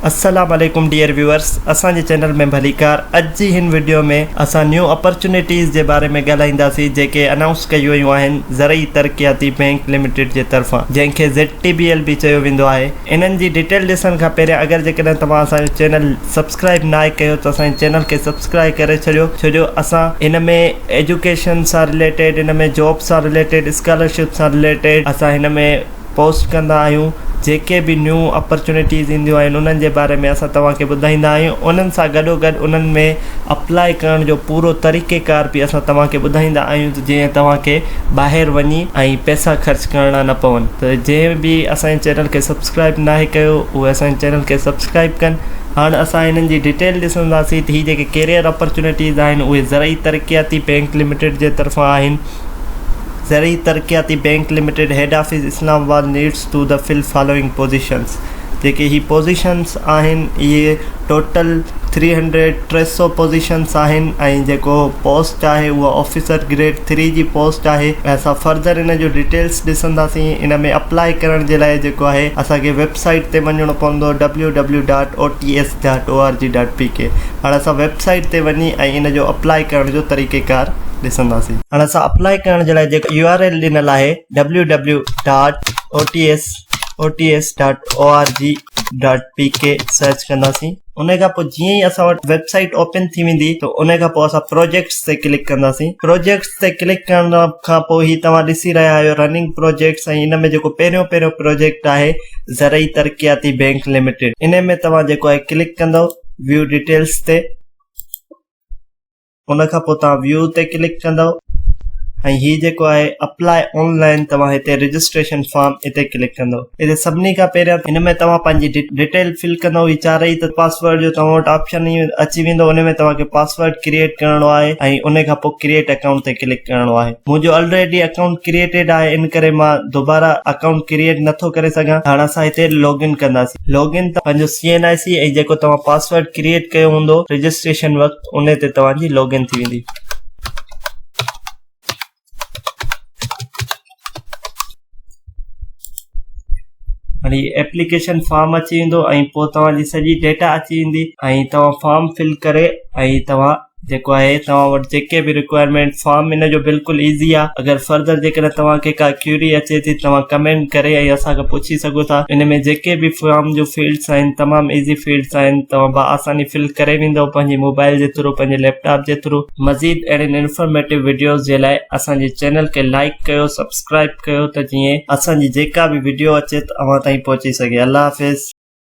السلام عليڪم dear viewers اسان جي چينل ۾ ڀليڪار اڄ جي هن وڊيو ۾ اسان نيو اپرچونيٽيز جي باري ۾ ڳالهائينداسين جيڪي انائونس ڪيون ويون آهن زرعي ترقياتي بينڪ لميٽيڊ جي طرفان جنهن کي ZTBL به چيو ويندو آهي انهن جي ڊيٽيل ڏسڻ کان پهريان اگر جيڪڏهن توهان اسان جو چينل سبسڪرائب ناهي ڪيو ته اسان جي چينل کي سبسڪرائب ڪري ڇڏيو ڇو جو اسان ان ۾ ايجوڪيشن سان رليٽيڊ ان ۾ جاب سان رليٽيڊ اسڪالرشپ سان رليٽيڊ اسان هن ۾ پوسٽ ڪندا آهيون جيڪي به نيون اپرچونيٽيز اينديون آهن انهن جي باري ۾ اسان توهان کي ٻڌائيندا آهيون انهن سان گڏو گڏ انهن ۾ اپلاء ڪرڻ جو پورو طريقي ڪار به اسان توهان کي ٻڌائيندا آهيون ته جيئن توهان کي ٻاهر وڃي ۽ پئسا خرچ ڪرڻا نه پون ته جنهن به اسان جي چينل کي سبسڪرائب ناهي ڪيو اهي اسان جي چينل کي سبسڪرائب ڪن هاڻ اسان هنن جي ڊيٽيل ڏسنداسين ته هي جيڪي ڪيريئر اپرچونيٽيز آهن اهي زرعي ترقياتي بينڪ لميٽيڊ جي طرفان آهن زرعي ترقياتي bank limited head office Islamabad needs to the full following positions جيڪي هي پوزيشنز آهن اهي ٽوٽل ٿري هنڊريڊ ٽي سئو پوزيشنز آهن ۽ جيڪو پوسٽ آهي اها آفيسر گريڊ ٿري جي پوسٽ آهي ۽ اسان فرڌر ان جو ڊيٽيلز ڏسنداسين ان ۾ اپلائي ڪرڻ جي لاء جيڪو آهي اسان کي ويب سائيٽ تي وڃڻو پوندو www. Dot O T S. Dot O R G dot P K هاڻي اسان ويب سائيٽ تي وڃي ۽ ان جو اپلاء ڪرڻ جو طريقي ڪار ڏسنداسين هاڻي اسان اپلاء ڪرڻ جي لاء جيڪو يو آر ايل ڏنل آهي W W dot O T S O T S dot O R G dot P K search ڪنداسين ان کان پوء جيئن ئي اسان وٽ ويب سائيٽ اوپن ٿي ويندي ته ان کان پوء اسان پروجيڪٽس تي ڪلڪ ڪنداسين پروجيڪٽس تي ڪلڪ ڪرڻ کان پوء هي توهان ڏسي رهيا آهيو رننگ پروجيڪٽس ۽ ان ۾ جيڪو پهريون پهريون پروجيڪٽ آهي زرعي ترقياتي بينڪ لميٽيڊ انهي ۾ توهان جيڪو آهي ڪلڪ ڪندو ويو ڊيٽيلس تي ان کان پوء توهان ويو تي ڪلڪ ڪندو ۽ هي جيڪو آهي اپلائي آن لائن توهان هتي رجسٽريشن فارم هتي ڪلڪ ڪندو هتي سڀني کان پهريان هن ۾ توهان پنهنجي ڊيٽيل فل ڪندو هي چارئي ته پاسورڊ جو توهان وٽ آپشن هي اچي ويندو ان ۾ توهان کي پاسورڊ ڪريئيٽ ڪرڻو آهي ۽ ان کان پوء ڪريئيٽ اڪائونٽ تي ڪلڪ ڪرڻو آهي منهنجو الريڊي اڪائونٽ ڪريئيٽيڊ آهي ان ڪري مان دوباره اڪائونٽ ڪريئيٽ نه ٿو ڪري سگهان هاڻ اسان هتي لاگ ان ڪنداسين لاگ ان تان پنهنجو سي اين آء سي ۽ جيڪو توهان پاسورڊ ڪريئيٽ ڪيو هوندو رجسٽريشن وقت ان تي توهان جي لاگ ان ٿي ويندي. هاڻي ايپليڪيشن فارم اچي ويندو ۽ پوء توهان جي سڄي ڊيٽا اچي ويندي ۽ توهان فارم فل ڪري ۽ توهان جيڪو آهي توهان وٽ جيڪي به رڪوائرمينٽ فارم ان جو بلڪل ايزي آهي اگر فرضر جيڪڏهن توهان کي ڪا ڪيوري اچي ٿي توهان ڪمينٽ ڪري ۽ اسان کي پڇي سگهو ٿا ان ۾ جيڪي به فارم جو فيلڊس آهن تمام ايزي فيلڊس آهن توهان با آساني فل ڪري ويندو پنهنجي موبائل جي ٿرو پنهنجي ليپ ٽاپ جي ٿرو مزيد اهڙين انفارميٽو وڊيوز جي لاء اسان جي چينل کي لائيڪ ڪيو سبسڪرائيب ڪيو ته جيئن اسان جي جيڪا به وڊيو اچي ته اوهان تائين پهچي سگهي الله حافظ.